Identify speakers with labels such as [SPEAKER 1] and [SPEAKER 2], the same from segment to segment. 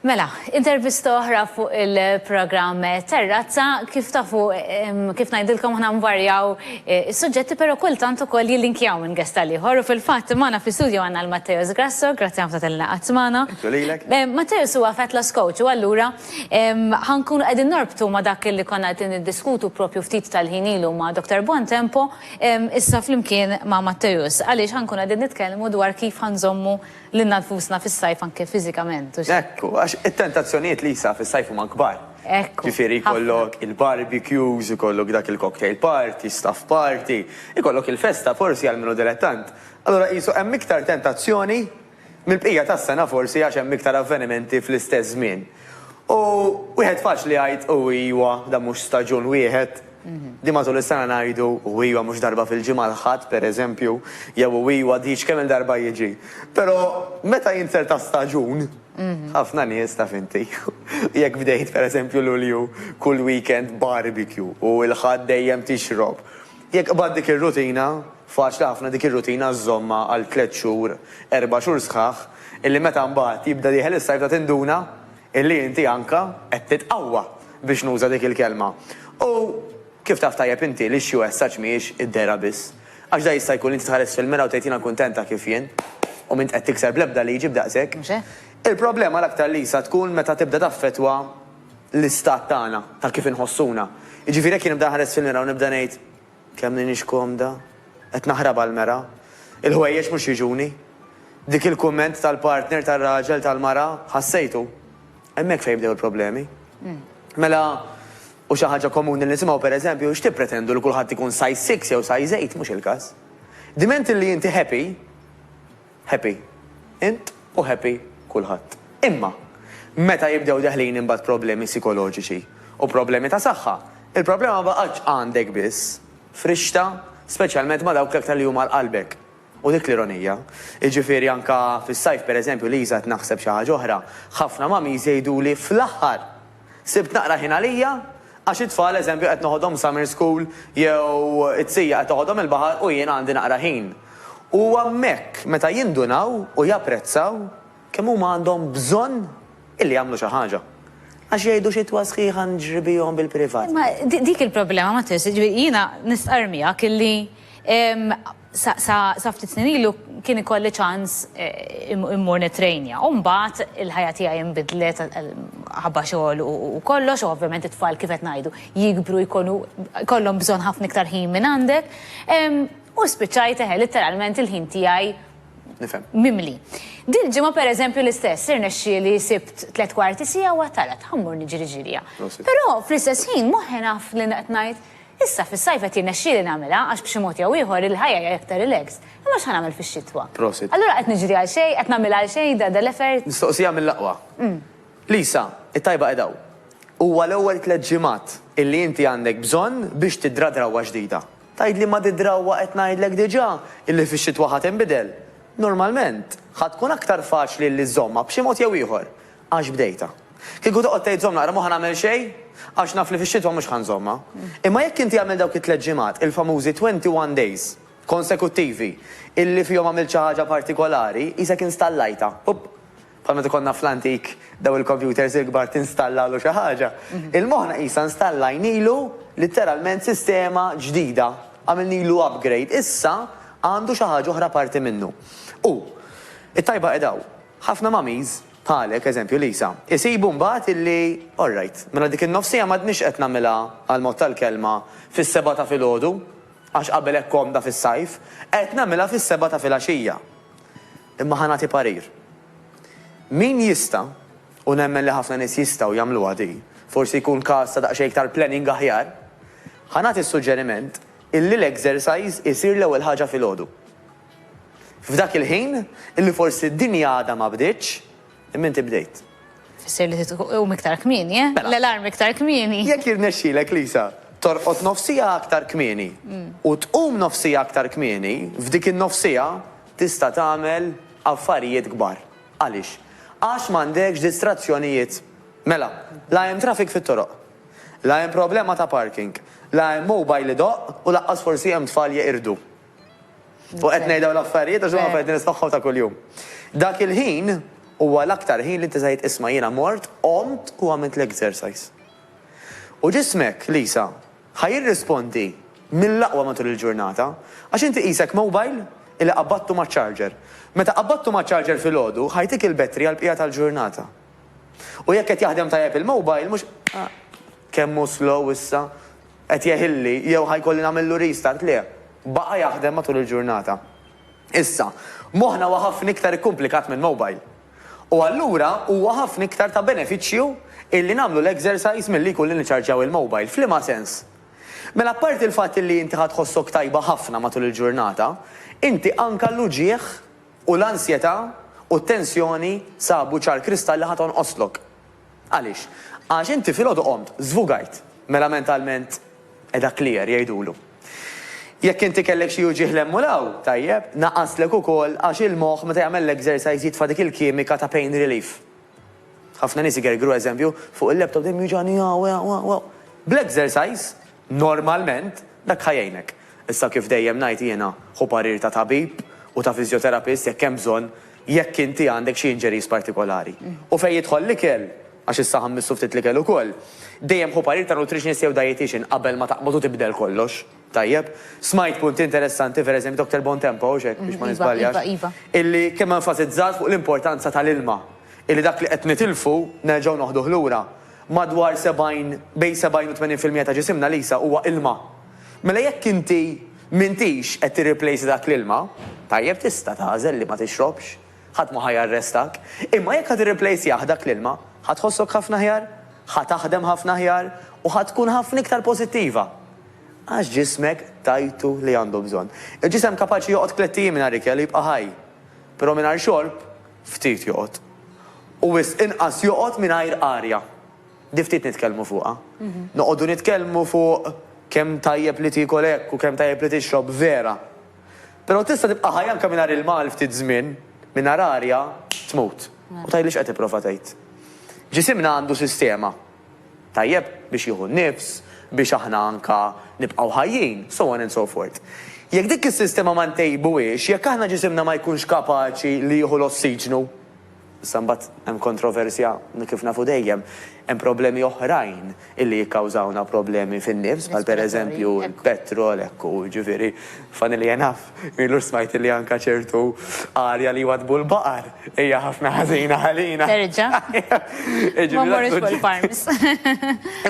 [SPEAKER 1] Mela, intervista oħra fuq il-programm Terrazza. Kif tafu, kif ngħidilkom aħna nvarjaw eh, is-suġġetti, però kultant ukoll jillinkjaw minn gesta l-ieħor u fil-fatt magħna fi studio għandna l-Matteos Grasso, grazzi ħafna tal laqgħat magħna. Eh, Matteos huwa fat loss coach u allura ħankun qegħdin norbtu ma' dak li konna qed niddiskutu propju ftit tal-ħin ilu ma' Dr. Buontempo issa flimkien ma' Matteos għaliex ħankun qegħdin nitkellmu dwar kif ħanżommu Lilna nfusna fis-sajf anke fiżikament, hux hekk? Hekk hu, għax
[SPEAKER 2] it-tentazzjonijiet, Lisa, fis-sajf huma kbar. Hekk hu, ħafna. Ġifieri jkollok il-barbecues, ikollok dak il-cocktail party, staff party, ikollok il-festa forsi għal min hu dilettant. Allura qisu hemm iktar tentazzjoni mill-bqija tas-sena forsi għax hemm iktar avvenimenti fl-istess żmien. U wieħed faċli jgħid u iwa dan mhux staġun wieħed, din matul is-sena ngħidu u iwa mhux darba fil-ġimgħa l-Ħadd pereżempju, jew u iwa diġ kemm-il darba jiġi. Però meta jinser ta' staġun, ħafna nies taf inti, jekk bdejt pereżempju Lulju kull weekend barbecue u l-Ħadd dejjem tixrob, Jekk qbadt dik ir-rutina, faċli ħafna dik ir-rutina żżommha għal tliet xhur, erba' xhur sħaħ, illi meta mbagħad jibda dieħel is-sajf ta' tinduna illi inti anka qed titqawwa, biex nuża dik il-kelma. U kif taf tajjeb inti li xi wessaġġ mhijiex id-dehra biss. Għax da jista' jkun li inti tħares fil-mira u tgħid jiena kuntent ta' kif jien u m'int qed tikser bl-ebda liġi b'daqsek. Il-problema l-aktar Lisa tkun meta tibda taffettwa l-istat tagħna, ta' kif inħossuna. Jiġifieri jekk jien nibda nħares fil-mira u nibda ngħid, Kemm m'iniex komda, qed naħrab għall-mera, il-ħwejjeġ mhux jiġuni. Dik il-kumment tal-partner, tar-raġel, tal-mara, ħassejtu? Hemmhekk fejn jibdew il-problemi. Mela, u xi ħaġa komuni li nisimgħu pereżempju, X'tippretendu li kulħadd ikun size six jew size eight? Mhux il-każ. Diment li inti happy, Happy int u happy kulħadd. Imma, meta jibdew deħlin imbagħad problemi sikoloġiċi u problemi ta' saħħa, il-problema ma baqgħetx għandek biss, frixta speċjalment ma' dawk l-aktar li huma għal qalbek. U dik l-ironija. Jiġifieri anke fis-sajf pereżempju, Liża qed naħseb xi ħaġa oħra, ħafna mummies jgħiduli fl-aħħar! Sibt naqra ħin għalija għax it-tfal eżempju qed noħodhom summer school jew it-sija qed toħodhom il-baħar u jiena għandi naqra ħin. U hemmhekk meta jindunaw u japprezzaw kemm huma għandhom bżonn illi jagħmlu xi ħaġa. Għax jgħidu xitwa sħiħa nġribihom bil-privat. Imma dik il-problema
[SPEAKER 1] ma tinsiex, jiena nistqarr miegħek illi Sa ftit snin ilu kien ikolli ċans immur nittrejnja u mbagħad il-ħajja tiegħi inbidlet ħabba xogħol u kollox u ovvjament it-tfal kif qed ngħidu jikbru jkunu jkollhom bżonn ħafna iktar ħin minn għandek u spiċċajt eħe litteralment il-ħin tiegħi mimli. Dil-ġimgħa pereżempju l-istess irnexxieli sibt tliet kwarti siegħa u għedt ara ħammur niġri ġirja. Però fl-istess ħin moħħi naf li qed ngħid Issa fis-sajf qed jirnexxieli nagħmilha għax b'xi mod jew ieħor il-ħajja hija iktar relaxed. Imma x'ħa nagħmel fix-xitwa? Prosit. Allura qed niġri għal xejn, qed nagħmilha għal xejn da da l-effort? Mistoqsija mill-aqwa.
[SPEAKER 2] Lisa, it-tajba qed hawn. Huwa l-ewwel tliet ġimgħat illi inti għandek bżonn biex tidra drawwa ġdida. Tgħidli ma di drawwa qed ngħidlek diġà illi fix-xitwa ħa tinbidel. Normalment, ħa tkun aktar faċli illi żżommha b'xi mod jew ieħor. Għax bdejtha. Kieku toqgħod tgħid żomm naqra m'hu ħa nagħmel xejn għax naf li fix-xitwa mhux ħa nżommha. Imma jekk inti għamilt dawk it-tliet ġimgħat, il-famużi twenty one days, konsekuttivi, illi fihom għamilt xi ħaġa partikolari, qisek installajtha. Up! Bħal meta konna fl-antik dawn il-kompjuters il-kbar tinstallalhu xi ħaġa. Il-moħħna qisha installajnilu litteralment sistema ġdida, għamilnilu upgrade. Issa għandu xi ħaġa oħra apparti minnu. U, it-tajba qiegħda hawn. Ħafna mummies, bħalek, eżempju Lisa, isibu mbagħad illi, alright, mela dik in-nofsija m'għadnix qed nagħmilha, għall-mod tal-kelma, fis-sebgħa ta' filgħodu, għax qabel hekk komda fis-sajf, qed nagħmilha fis-sebgħa ta' filgħaxija. Imma ħa nagħti parir. Min jista', u nemmen li ħafna nies jistgħu jagħmluha di, forsi jkun każ ta' daqsxejn iktar planning aħjar, ħa nagħti s-suġġeriment illi l-exercise isir l-ewwel ħaġa filgħodu. F'dak il-ħin, illi forsi d-dinja għadha ma bdietx, imma inti bdejt. Tfisser li trid
[SPEAKER 1] tqum iktar kmieni, eh? Mela. L-alarm iktar kmieni. Jekk jirnexxilek,
[SPEAKER 2] Lisa, torqod nofs siegħa aktar kmieni u tqum nofs siegħa aktar kmieni, f'dik in-nofs siegħa tista' tagħmel affarijiet kbar. Għaliex? Għax m'għandekx distrazzjonijiet. Mela, la hemm traffic fit-toroq. La hemm problema ta' parking. La hemm mobile idoqq u lanqas forsi hemm tfal jeqirdu. U qed ngħid dawn l-affarijiet għax huma affarijiet li nismagħhom ta' kuljum. Dak il-ħin huwa l-aktar ħin li inti se tgħid isma' jiena mort, qomt u għamilt l-exercise. U ġismek, Lisa, ħa jirrispondi mill-aqwa matul il-ġurnata, għax inti qisek mobile illi qabadtu maċ-charger. Meta qabadtu maċ-charger filgħodu, ħa jtik il-battery għall-bqija tal-ġurnata. U jekk qed jaħdem tajjeb il-mobile mhux kemm hu slow issa, Qed jeħilli jew ħa jkolli nagħmillu restart? Le. Baqa' jaħdem matul il-ġurnata. Issa, moħħna huwa ħafna iktar ikkumplikat minn mobile. U allura huwa ħafna iktar ta' benefiċċju illi nagħmlu l-exercise milli jkun li niċċarġjaw il-mobile. F'liema sens? Mela apparti l-fatt illi inti ħa tħossok tajba ħafna matul il-ġurnata, inti anke l-uġigħ u l-ansjetà u t-tensjoni sabu ċar kristall li ħa tonqoslok. Għaliex? Għax inti filgħodu qomt, żvugajt. Mela mentalment qiegħda clear, jgħidulu. Jekk inti kellek xi uġigħ 'l hemm u 'l hawn, tajjeb, naqaslek ukoll għax il-moħħ meta jagħmel l-exercise jitfa' dik il-kimika ta' pain relief. Ħafna nies igergru eżempju, fuq il-laptop dejjem jiwġagħni hawn, hawn, hawn, hawn. Bl-exercise, normalment, dak ħa jgħinek. Issa kif dejjem ngħid jiena, ħu parir ta' tabib u ta' physiotherapist jekk hemm bżonn, Jekk inti għandek xi injuries partikolari. U fejn jidħol l-ikel, għax issa ħammistu ftit l-ikel ukoll, dejjem ħu parir ta' nutritionist jew dietician qabel ma taqbad u tibdel kollox. Tajjeb? Smajt punt interessanti, per eżempju, Doctor Bontempo, hawnx hekk, biex ma niżbaljax, illi kemm enfasizzat fuq l-importanza tal-ilma, illi dak li qed nitilfu nerġgħu noħduh lura. Madwar 70, bejn 70 u 80 fil-mija ta' ġisimna, Lisa, huwa ilma. Mela jekk inti m'intix qed tirriplejsa dak l-ilma, tajjeb tista' tagħżel li ma tixrobx, ħadd ma ħa jarrestak. Imma jekk ħa tirriplejsjah dak l-ilma, ħa tħossok ħafna aħjar, ħa taħdem ħafna aħjar u ħa tkun ħafna iktar pożittiva. Għax ġismek tajtu li għandu bżonn. Il-ġisem kapaċi joqgħod tlett ijiem mingħajr ikel u jibqa' ħaj. Però mingħajr xorb, ftit joqgħod. U wisq inqas joqgħod mingħajr arja. Di ftit nitkellmu fuqha. Noqogħdu nitkellmu fuq kemm tajjeb li tiekol hekk u kemm tajjeb li tixrob, vera. Però tista' tibqa' ħaj anke mingħajr ilma għal ftit żmien, mingħajr arja tmut. U tgħidli x'qed tipprova tgħid. Ġisimna għandu sistema, tajjeb, biex jieħu n-nifs, biex aħna anke nibqgħu ħajjin, so on and so forth. Jekk dik is-sistema ma ntejbuhiex, jekk aħna ġisimna ma jkunx kapaċi li jieħu l-ossiġnu, Issa mbagħad hemm kontroversja kif nafu dejjem, hemm problemi oħrajn illi jikkawżawna problemi fin-nifs bħal pereżempju l-petrol hekk u jiġifieri funnily enough m'ilux smajt illi anke ċertu arja li jwaddbu l-baqar hija ħafna ħażina għalina. Terġa'.
[SPEAKER 1] Ma mmorrux fuq il-farms.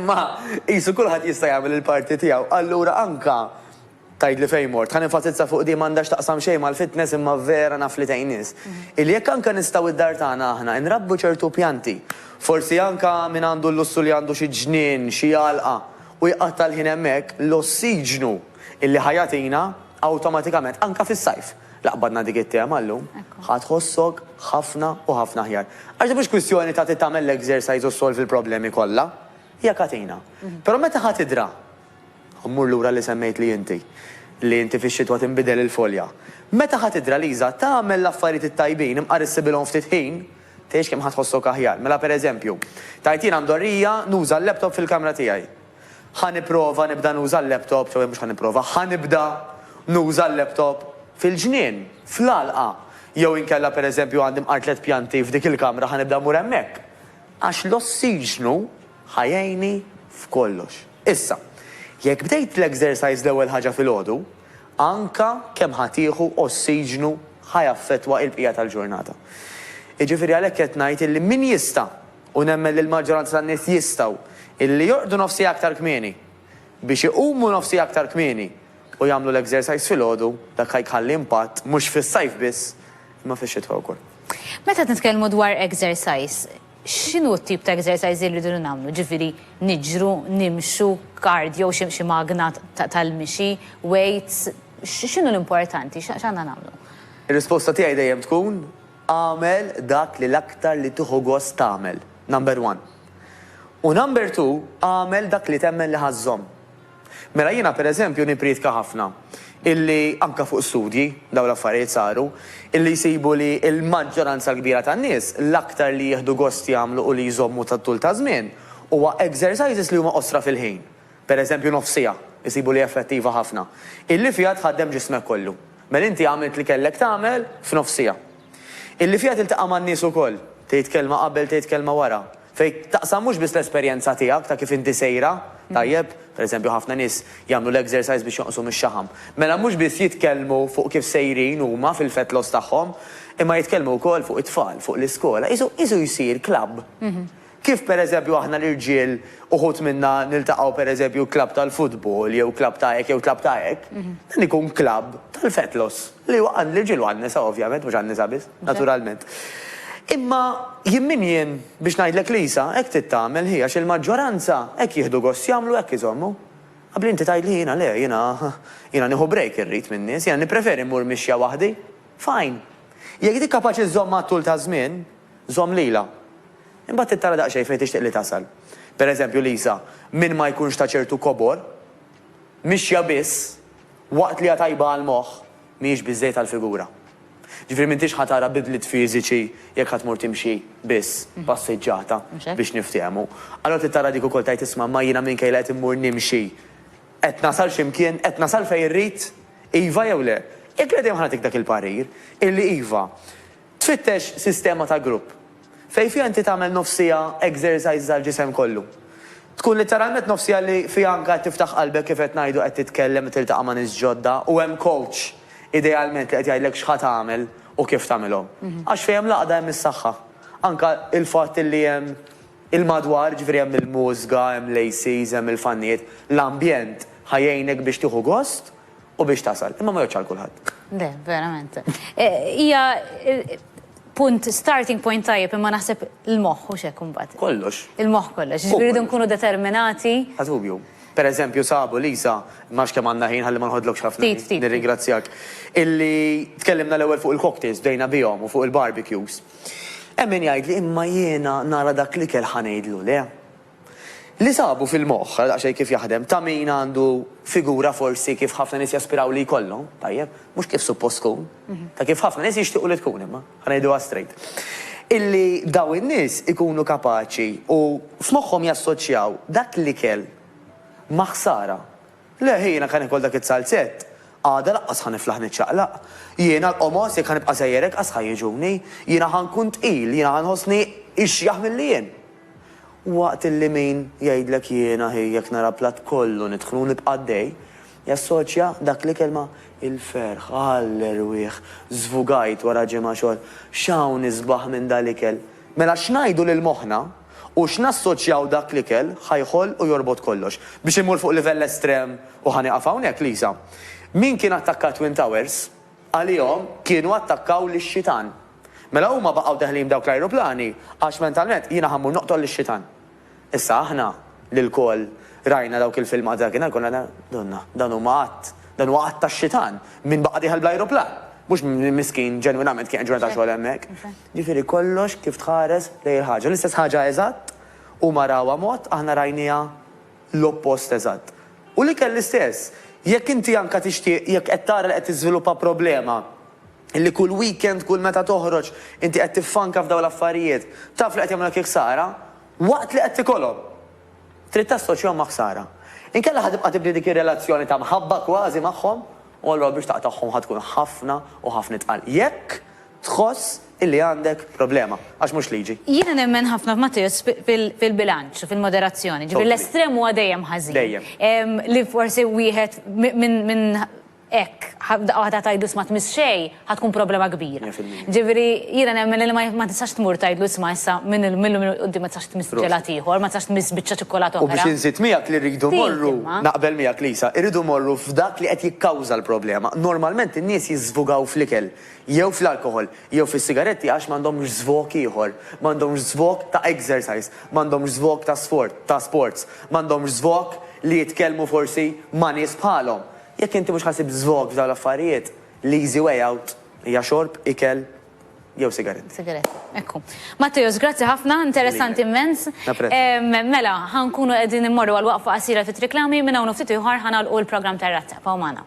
[SPEAKER 1] Imma
[SPEAKER 2] qisu kulħadd jista' jagħmel il-parti tiegħu allura anke Tgħidli fejn mort. Ħa nenfasizza fuq din, m'għandha x'taqsam xejn mal-fitness imma vera naf li tgħin nies. Illi jekk anke nistgħu id-dar tagħna aħna nrabbu ċertu pjanti, forsi anke min għandu l-lussu li għandu xi ġnien, xi għalqa, u jqatta' l-ħin hemmhekk, l-ossiġnu illi ħa jagħtina awtomatikament, anke fis-sajf, la qbadna dik it-tema llum, ħa tħossok ħafna u ħafna aħjar. Għax din mhux kwistjoni ta' trid tagħmel l-exercise u ssolvi l-problemi kollha. Hija katina. Però meta ħa tidra. Mmur lura li semmejtli inti, li inti fix-xitwa tinbidel il-folja. Meta ħa tidra Liża, tagħmel l-affarijiet it-tajbin, imqar issibilhom ftit ħin, tgħix kemm ħa tħossok aħjar. Mela per eżempju, tgħid jiena mdorrija nuża l-laptop fil-kamra tiegħi. Ħa nipprova nibda nuża l-laptop, jew mhux ħa nipprova, ħa nibda nuża l-laptop fil-ġnien, fl-għalqa. Jew inkella per eżempju għandi mqar tliet pjanti f'dik il-kamra ħa nibda mmur hemmhekk. Għax l-ossiġnu Ħa jgħinni f'kollox. Issa, jekk bdejt l-exercise l-ewwel ħaġa filgħodu, anke kemm ħa tieħu ossiġnu ħa jaffettwa il-bqija tal-ġurnata. Jiġifieri għalhekk qed ngħid illi min jista', u nemmen li l-maġġoranza tan-nies jistgħu, illi jorqdu nofs siegħa aktar kmieni, biex iqumu nofs siegħa aktar kmieni u jagħmlu l-exercise filgħodu, dak ħa jkhalli impatt mhux fis-sajf biss, imma fix-xitwa wkoll. Meta qed nitkellmu
[SPEAKER 1] dwar exercise, X'inhu t-tip ta' exercise li rridu nagħmlu? Ġifieri niġru, nimxu, cardio, xi magna tal-mixi, weights, x'inhu l-importanti, x'għandna nagħmlu? Ir-risposta tiegħi
[SPEAKER 2] dejjem tkun, agħmel dak li l-aktar li tieħu gost tagħmel, number one. U number two, agħmel dak li temmen li ħa żżomm. Mela jiena per eżempju nippriedka ħafna illi anke fuq studji, dawn l-affarijiet saru, illi jsibu li l-maġġoranza l-kbira tan-nies l-aktar li jieħdu gost jagħmlu u li jżommu tat-tul ta' żmien huwa exercises li huma qosra fil-ħin, per eżempju nofs siegħa, isibu li effettiva ħafna, illi fiha tħaddem ġismek kollu. Mela inti għamilt li kellek tagħmel f'nofs siegħa. Illi fiha tiltaqa' man-nies ukoll, tgħid kelma qabel tgħid kelma wara, fejn taqsam mhux biss l-esperjenza tiegħek ta' kif inti sejra, tajjeb, pereżempju ħafna nies jagħmlu l-exercise biex jonqsu mix-xaħam. Mela mhux biss jitkellmu fuq kif sejrin huma fil-fat loss tagħhom, imma jitkellmu wkoll fuq it-tfal, fuq l-iskola, qisu qisu jsir club Kif pereżempju aħna l-irġiel uħud minna niltaqgħu pereżempju klabb tal-futbol jew klabb ta' hekk jew klabb ta' hekk, dan ikun klabb tal-fetlos li huwa għall-irġiel u għan-nisa ovvjament, mhux għan-nisa biss, naturalment. Imma jien min jien biex ngħidlek li Isa hekk trid tagħmel hi għax il-maġġoranza hekk jieħdu gost jagħmlu hekk iżommu. Abbli inti tgħidli jiena le, jiena jiena nieħu break irrid min-nies, jiena nippreferi mmur mixja waħdi. Fine. Jekk dik kapaċi żżomm għat-tul taż-żmien, Żomm lilha. Imbagħad trid tara daqsxejn fejn tixtieq li tasal. Per eżempju, Lisa, min ma jkunx ta' ċertu kobor, mixja biss, waqt li hija tajba għall-moħħ, mhijiex biżżejjed għall-figura. Ġifieri m'intix ħa tara bidliet fiżiċi jekk ħa tmur timxi biss, passiġġata, biex niftehmu. Allura trid tara dik ukoll tgħid isma' imma jiena minkejja li qed immur nimxi, qed nasal xi mkien, qed nasal fejn irrid? Iva jew le? Jekk le dejjem ħa nagħtik dak il-parir, illi iva. Tfittex sistema ta' grupp fejn fiha inti tagħmel nofs siegħa exercises għall-ġisem kollu. Tkun litteralment nofs siegħa li fiha anke qed tiftaħ qalbek kif qed ngħidu qed titkellem qed tiltaqa' ma' nies ġodda u hemm coach idealment li qed jgħidlek x'ħa tagħmel u kif tagħmilhom. Għax fejn hemm l-għaqda hemm is-saħħa. Anke il-fatt li hemm il-madwar, jiġifieri hemm il-mużga, hemm l-ACs, hemm il-fannijiet, l-ambjent ħa jgħinek biex tieħu gost u biex tasal, imma ma jgħodx għal kulħadd. Le, verament. E,
[SPEAKER 1] hija punt starting point tajjeb imma naħseb il-moħħ u xek imbagħad. Kollox. Il-moħħ
[SPEAKER 2] kollox. Ġifieri
[SPEAKER 1] nkunu determinati. Ħadubju.
[SPEAKER 2] Per eżempju, sabu Lisa, max kemm għandna ħin ħalli ma nħodlokx ħafna. Ftit, ftit. Nirringrazzjak. Illi tkellimna l-ewwel fuq il-cocktails bdejna bihom u fuq il-barbecues. Hemm min jgħid li imma jiena nara dak li kell ħanejdlu le. Li sabu fil-moħħ, ara daqsxejn kif jaħdem, ta' min għandu figura forsi kif ħafna nies jaspiraw li jkollhom, tajjeb, mhux kif suppost tkun, ta' kif ħafna nies jixtiequ li tkun imma, ħa ngħiduha straight. Illi dawn in-nies ikunu kapaċi u f'moħħhom jassoċjaw dak l-ikel ma' ħsara. Le, hi jiena kan ikol dak iz-zalzett, għada laqqas ħa niflaħ niċċaqlaq. Jiena l-qomos jekk ħa nibqa' sejjer hekk qas ħa jiġuni. Jiena ħa nkun tqil, jiena ħa nħossni ixjaħ milli jien. Waqt li min jgħidlek jiena hi jekk nara platt kollu nidħlu u nibqa' għaddej, jassoċja dak li kelma il-ferħ, għall-erwieħ, żvugajt wara ġimgħa xogħol, x'hawn isbaħ minn dal-ikel? Mela x'ngħidu lil moħħna u x'nassoċjaw dak l-ikel ħa jħoll u jorbot kollox? Biex immur fuq livell estrem u ħa nieqaf hawnhekk, Lisa, min kien attakka t-Twin Towers, għalihom kienu attakkaw lis-xitan. Mela huma baqgħu deħlin b'dawk l-ajruplani għax mentalment jiena ħa mmur noqtol lix-xitan. Issa aħna li lkoll rajna dawk il-filmati dakinhar konna ngħidu, Donna, dan huma att, dan huwa att tax-xitan, min baqa' dieħel bl-ajruplan? Mhux min miskin ġenwinament kien qed ġurnata xogħol hemmhekk. Jiġifieri kollox kif tħares lejn il-ħaġa. L-istess ħaġa eżatt, huma rawha mod, aħna rajniha l-oppost eżatt. U l-ikel l-istess. Jekk inti anke tixtieq, jekk qed tara li qed tiżviluppa problema, Illi kull weekend, kull meta toħroġ, inti qed tiffanka f'dawn l-affarijiet. Taf li qed jagħmlulek il-ħsara, waqt li qed tikolhom! Trid tassoċjahom ma' ħsara. Inkella ħa tibqa' tibni dik ir-relazzjoni ta' mħabba kważi magħhom, u allura biex taqtagħhom ħa tkun ħafna u ħafna itqal. Jekk tħoss illi għandek problema. Għax mhux liġi. Jiena nemmen ħafna
[SPEAKER 1] f'Mattew fil-bilanċ, fil-moderazzjoni. Ġifieri l-estrem huwa dejjem ħażin. Dejjem. Li
[SPEAKER 2] forsi
[SPEAKER 1] wieħed minn hekk, daqqa waħda tgħidlu isma' tmiss xejn, ħa tkun problema kbira. Mija fil-mija. Ġifieri jiena nemmen li ma tistax tmur tgħidlu isma' issa minn illum il-quddiem ma tistax tmiss ġelat ieħor, ma tistax tmiss biċċa ċikkulata oħra. U biex inżid miegħek li
[SPEAKER 2] rridu mmorru, naqbel miegħek Lisa, irridu mmorru f'dak li qed jikkawża l-problema. Normalment in-nies jiżżvugaw fl-ikel, jew fl-alkoħol, jew fis-sigaretti għax m'għandhomx żvog ieħor. M'għandhomx żvog ta' exercise, m'għandhomx żvog ta' sfort, ta' sports, m'għandhomx żvog li jitkellmu forsi ma' nies bħalhom. Jekk inti mhux ħa ssib żvog f'dawn l-affarijiet, l-easy way out hija xorb, ikel jew sigaretti. Sigaretti, ekku.
[SPEAKER 1] Matteus, grazzi ħafna, interessanti immens. Napprezza. Mela, ħa nkunu qegħdin immorru għal waqfa qasira fit-triq Lagħmi, minn hawn u ftit ieħor ħa nagħlqu l-programm tar-Razzeppa u magħna.